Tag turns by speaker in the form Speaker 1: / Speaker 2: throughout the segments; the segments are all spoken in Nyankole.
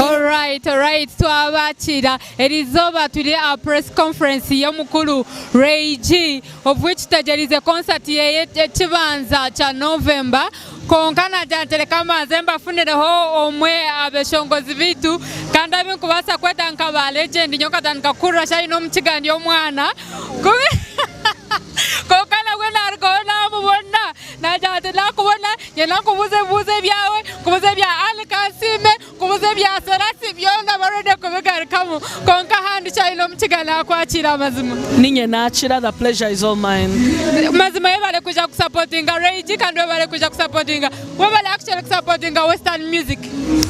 Speaker 1: Alright alright twabakira erizooba turi aha press conference y'omukuru Ray G of which tutegyereize concert yeye ekibanza kya November kwonka nagira nti reka mbanze mbafunireho omwe aha beshongozi beitu kandi abu nkubaasa kweta nka ba legend nyowe nkatandika kuhurira shi aine omukiga ndi omwana Kwonka nabwe naarugaho naamubona. Naagira ati, Naakubona nyenda nkubuuze ebibuuzo ebyawe, nkubuuze ebya Ali Kansiime, nkubuuze ebya Serasi, byona baronde kubigarukamu. Kwonka handi ki aine omu kiga naakwakiira amazima. Niinye naakira,
Speaker 2: the pleasure is all mine. Mazima webale
Speaker 1: kwija kusapotinga Rage kandi webale kwija kusapotinga webale actually kusapotinga western music.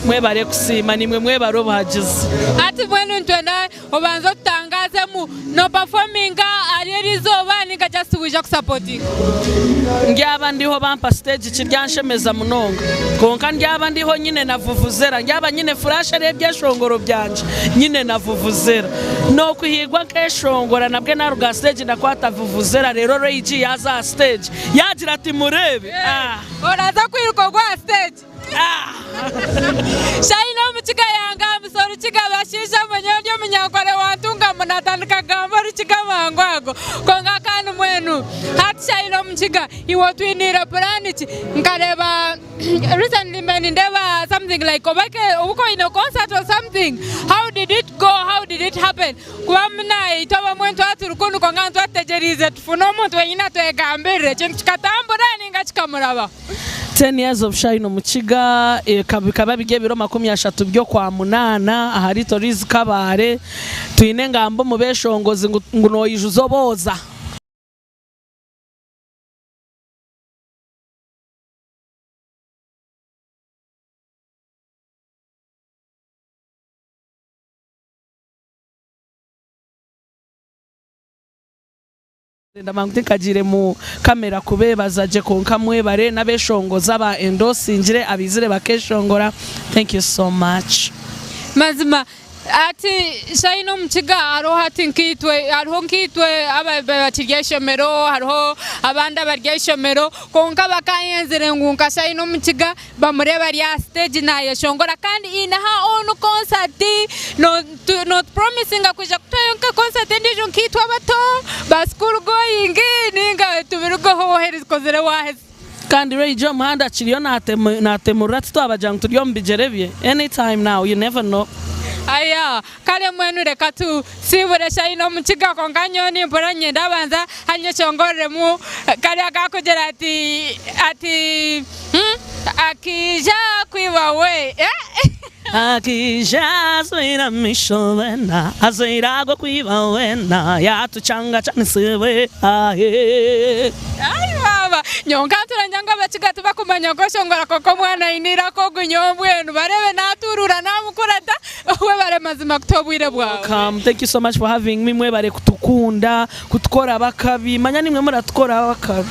Speaker 1: Mwebare
Speaker 2: kusiima, niimwe mwebare obuhagizi. Hati mbwenu
Speaker 1: nitwenda. Obanze otutangaazemu nopafominga ahari eri izooba ninga just waija kusapotinga?
Speaker 2: Ndyaaba ndiho bampa stage kiryanshemeza munonga kwonka ndyaaba ndiho nyine na vuvuzera ndyaaba nyine flash ari ebyeshongoro byangye nyine na vuvuzera nokuhiigwa nkeshongora nabwe naruga aha stage ndakwata vuvuzera reero Ray G yaaza aha stage yaagira ati mureebe ah. Oraza
Speaker 1: kwiruka ogwa aha stage. Shaina omukiga yanga amusa orukiga abashaija mwe nyowe ndi omunyankore wantunga mu natandika kugamba orukiga amangu ago kwonka kandi mwenu hati shaina omukiga iwe otwiniire puraani ki nkareeba recently mbaire nindeeba something like oba eke obu ka oine concert or something how did it go how did it happen kuba buna itwe abamwe nitwaba turi kunu kwonka nitwaba tutegyereize tufune omuntu wenyine atwegambirire ekintu kikatambura ninga kikamurabaho. Ten years
Speaker 2: of shine omukiga eka bikaba biri ebiro makumi ashatu by'okwa munaana aha riito riizi Kabaale twine engamba omu beshongozi ngu ngu noyijuza obooza. Ndabanguta nkagiire mu camera kubebaza gye kwonka mwebare nabeshongoza aba endosingire abaizire bakeshongora thank you so much. Mazima
Speaker 1: hati shine omukiga hariho hati nkaitwe hariho nkaitwe abakiri ahaishomero hariho abandi abari ahaishomero kwonka bakanyenzire ngu nka shine omukiga Bamurebe ari aha siteegi naayeshongora kandi aine aha own concert. Nootupromisinga kwija kutwayo nka concert endiijo nkaitwe abato, ba school going nainga tubirugeho waaherizikozire waaheza. Kandi Ray-J
Speaker 2: omuhanda akiriyo naatemurura titwabagira ngu turi omu bigyere bye, anytime now, you never know. Ayaa!
Speaker 1: Kare mbwenu reka tu siibure shayi n'omu kiga kwonka nyowe nimpurira ninyenda banza hariyo eki ongoreremu kariya ka kugira ati ati hmm, Akaija kwiba we eh. Akaija
Speaker 2: ajwaire amaisho bwena ajwaire ago kwiba wena yatucangacanisiibwe ahe. Ai baaba,
Speaker 1: nyowe nkantura ngira ngu Abakiga tibakumanya kweshongora kwonka omwana aine eiraka ogu nyowe mbwenu bareebe naaturuura naamukura ta. Webare mazima kuta obwire bwawe. Welcome thank you so much for
Speaker 2: having me mwebare kutukunda kutukoraho akabi manya nimwe muratukoraho akabi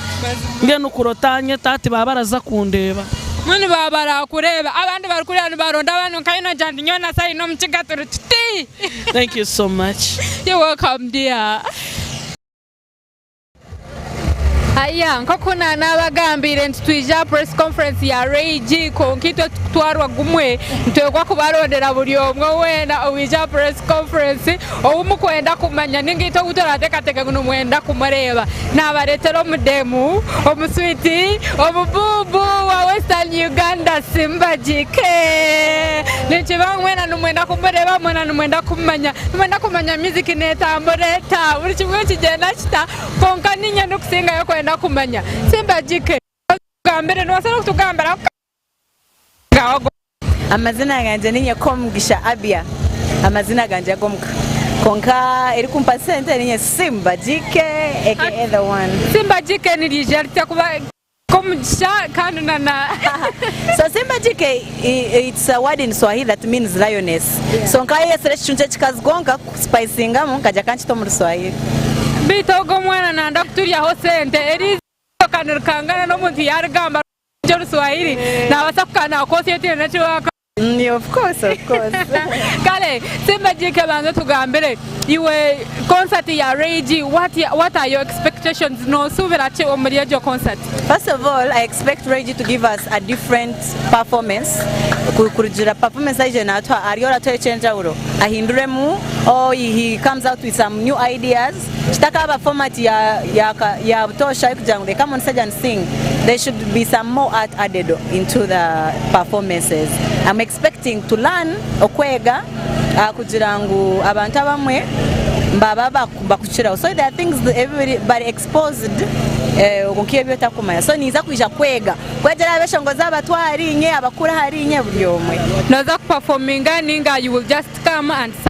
Speaker 2: mbwenu kurota anye tati baba baraza kundeba. Mbwenu baba
Speaker 1: barakureba abandi bari kuriya nibaronda abandi nkaye nogira nti nyowe na Sally nomukiga turi tuti. Thank you so
Speaker 2: much. You're welcome
Speaker 1: dear. Haya, nk'oku naanaabagambiire nti twije aha Press Conference ya RAG kwonka itwe tikutwarwa gumwe, nitwegwa kubarondera buri omwe weena owaija aha Press Conference ou mukwenda kumanya nainga itwe ou turaateekateeka ngu nimwenda kumureeba naabareetera omudeemu, omuswiiti, omubuubu wa Western Uganda Simbagi Kee! Ninkibaaho mwena nimwenda kumureeba. Nimwenda kumanya? Nimwenda kumanya music netambura eta? Buri kimwe nikigyenda kita? Kwonka niinye ndikusingayo kwenda kumanya. Simba JK, waza otugambire, nobaasa nokutugambira ku kabaga kaawe agu.
Speaker 3: Amazina gangye ni Nyekomugisha Abia, amazina gangye ag'omuka. Kwonka erikumpa sente niinye Simba JK aka the
Speaker 1: one.
Speaker 3: Simba JK niryija ritya kuba. Kwonka omugisha
Speaker 1: kandi na na. So Simba
Speaker 3: JK it's a word in Swahili that means lioness so nkayeyesera ekicuncu ekikazi kwonka ku spicingamu nkagya kankita omu ruswahili. Beitu ogu
Speaker 1: omwana nanda kuturyaho sente, eriizooba ryoka nirikangana n'omuntu yarigamba rurungi orushwahili nabasa kukanaha kosi eyo tihaine eki bakamuha.
Speaker 3: Kare
Speaker 1: tsimba Gyike banza otugambire iwe concert ya Ray G what what are your expectations nosuubira ki omuri egyo concert? First of all I
Speaker 3: expect Ray G to give us a different performance kurugiirira performance aije natuha ariyo aratuha ekyenjawuro ahinduremu or he comes out with some new ideas Kitakaaba format ya ya ka ya butoosha ari kugira ngu they come on stage and sing there should be some more art added into the performances I'm expecting to learn okwega aha kugira ngu abantu abamwe mbaba baku bakukiraho so there are things ebi biri bari exposed eh nka ebi otakumanya so ninza kwija kwega kwegyera aha b'eshongo z'abato ahariinye abakuru ahariinye buri omwe. Noza ku performinga
Speaker 1: ninga you will just come and sing.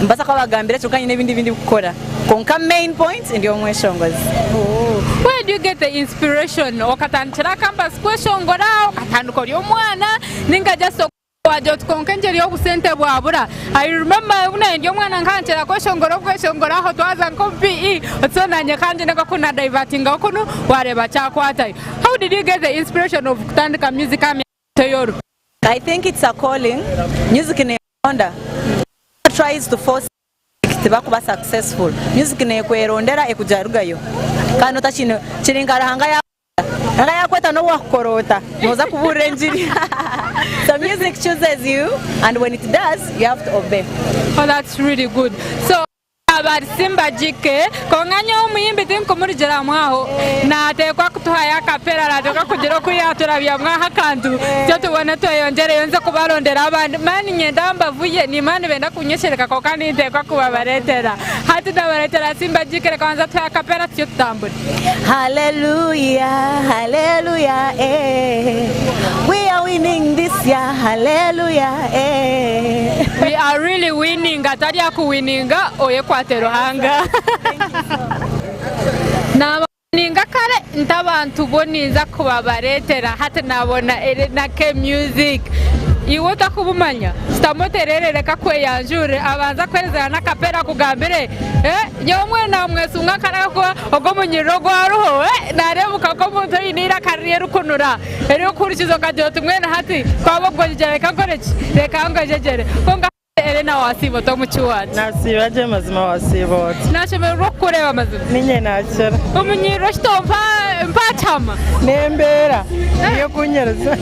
Speaker 3: Nibaasa kuba bagambira kyonka nyine ebindi bindikukora kwonka main point ndi omweshongozi. Where
Speaker 1: do you get the inspiration? Okatandikira campus kweshongora? Okatandika ori omwana? Ninga just oku wagye oti kwonka engyeri obusente bwabura? I remember obu naanye ndi omwana nkahanikira kweshongora obweshongora aho twaza nk'omu PE oti so naanye kangyende nka ku na divertingaho kunu wareeba kyakwatayo. How did you get the inspiration of kutandika music aha myaka. Teyoru. I think
Speaker 3: it's a calling, music nekweronda, whoever tries to force music tibakuba successful, music nekwerondera ekuja arugayo Kandi notakine, kiri nka Ruhanga yakweta, Ruhanga yakweta nobu wakukora ota noza kuburira enjiri so music chooses you and when it does you have to obey. Oh that's really
Speaker 1: good so. Yaaba ari simbagike, kwonka nyowe omuyimbi tinkumurugiramu aho. Naateekwa kutuhayo akapera arateekwa kugira oku yaaturabyamu aha akantu itwe tubone tweyongyereyo nze kubarondera abandi mani nyende aha mbavu ye niimanya nibenda kunyeshereka kwonka ninteekwa kubabareetera. Hati ndabareetera Simbagike. Reka manze atuhe akapera tucwe tutambure. Hallelujah
Speaker 3: Hallelujah eh We are winning this year Hallelujah eh
Speaker 1: We are really winning atari akuwininga oyekwate Ruhanga Nabawininga kare nti abantu bo ninza kubabaretera hati nabona Elena K music Iwe ota kubumanya shutama oterere reka akweyanjurire abanze akwezera nakapera akugambire eh Nyowe mbwenu naamwesunga nkaragwa ogwo omunyiriri ogu ariho. Naareebuka nk'omuntu oine eiraka ririkunura erikuhurikiza okagira oti mbwenu hati ku aba ogwegyegyera reka nkore ki? Reka ngwegyegyere. Kwonka hati Elena waasiiba ota omu ki waati? Naasiiba gye mazima
Speaker 2: waasiiba ota? Naashemererwa okukureeba
Speaker 1: mazima. Niinye naakira.
Speaker 2: Omunyiriri okito
Speaker 1: mpa mpa kyama. N'embeera
Speaker 2: niyo ekunyiriza.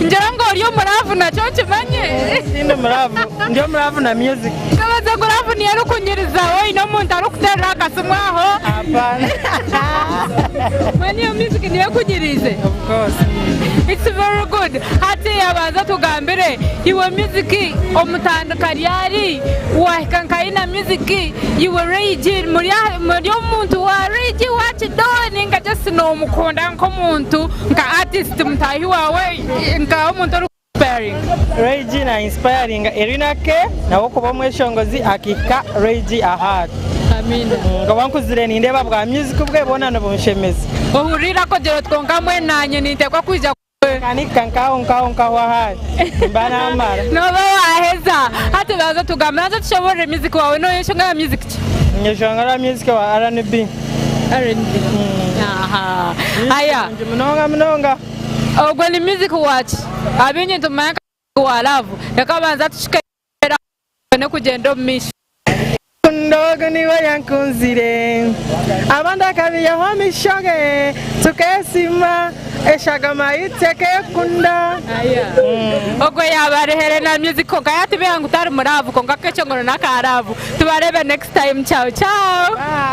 Speaker 2: Ngira
Speaker 1: ngu ori omuraavu nakyo nkimanye. Tindi muraavu.
Speaker 2: Ndi omuraavu na music. Nikibazyo ku laavu niyo
Speaker 1: erikunyiriza oine omuntu arikuteerera akasimu aho.
Speaker 2: Mbwenu
Speaker 1: eyo music niyo ekunyiriize?
Speaker 2: It's very
Speaker 1: good. Hati abanza otugambire iwe music omutandika ryari? Wahika nka Ina music iwe Ray G muri aha- muri omuntu wa Ray G wa kidole ninga just noomukunda nk'omuntu nka artist mutaahi waawe nka omuntu ori Inspiring, Roigi na
Speaker 2: inspiringa Erina Kay nawe kuba omweshongozi akihika Roigi ahaari.
Speaker 1: Nkaba nkuzire
Speaker 2: nindeeba bwa music bwe bwona nibunshemeza. Ohurire akogire
Speaker 1: oti kwonka mbwenu nanye nintekwa kwija kuba nkawe. Ka nihika nkaho
Speaker 2: nkaho nkaho ahaari nimba namara. Noba waheza,
Speaker 1: hati banza otugambe banza otushoborere music wawe noyeshongera music ki? Nyeshongera
Speaker 2: music wa RNB. RNB,
Speaker 1: ahaa. Ayaa. Nungi munonga munonga.
Speaker 2: Ogwo ni
Speaker 1: music waki? Abingi nitumumanya nka music wa laavu. Reka abanze atucike ayemerere aho tubone kugyenda omu maisho. Rukundo
Speaker 2: ogu niwe oyankunzire Abandi akabiihaho amaisho ge Tukesiima eshagama yaitu tekekunda.
Speaker 1: Ogwo yaaba ari Helena music kwonka yatubiiha ngu tari mu laavu kwonka akecongoro n'aka laavu. Tubareebe next time. Ciao ciao.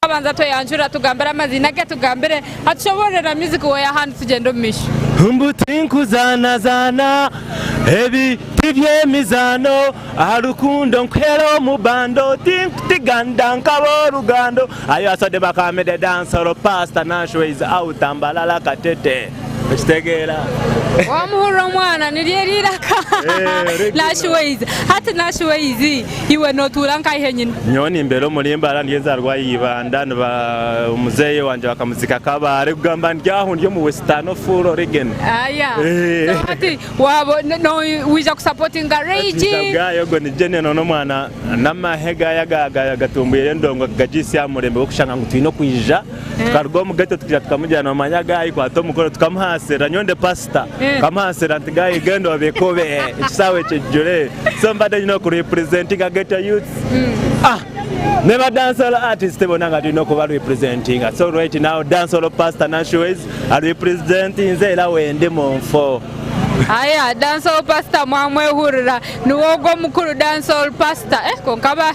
Speaker 1: Twabanza tweyanjura tugambire amaziina agu atugambire atushoboororera music we ahandi tugyende omu maisho. Mbu
Speaker 4: tinkuzaanazaana, ebi tiby'emizaano, aha rukundo nkuheera omu bando, tinkutiga ndankaba orugando, Ayo asode bakambire dancehall, Paasita Nasho is out, Mbalala Katete. Okitegeera? Wamuhurira
Speaker 1: omwana niryo eri iraka Nashi Ways hati Nashi Ways iwe notuura nkaihe nyina? Nyowe nimbeera omuri
Speaker 4: Mbaara ndi enzarwa ya Ibanda niba muzeyi wangye bakamuziika Kabale kugamba ndi aho ndi omu western full origin so
Speaker 1: hati waba noija ku supportinga Rage? Bwayo ogwo ni general
Speaker 4: nomwana namahe gaye agatumbwire endongo kugagyitsya ahamurembe gwokushanga ngu twine okwiija tukaruga omu ghetto tukaija tukamujana omu manya ga Ikwata omukono tukamuhansirira nyowe ndi pastor nkamuhansirira nti ga Igenda obikube ekisaawe kijure so mbade nyine oku representinga ghetto youths ah ne ba dancehall artist bona nga twine okuba representinga so right now dancehall pastor Nancy Ways a representinze era wendi mu nfo. Aya
Speaker 1: dancehall pastor mwamwehurira niwe ogu omukuru dancehall pastor eh konka ba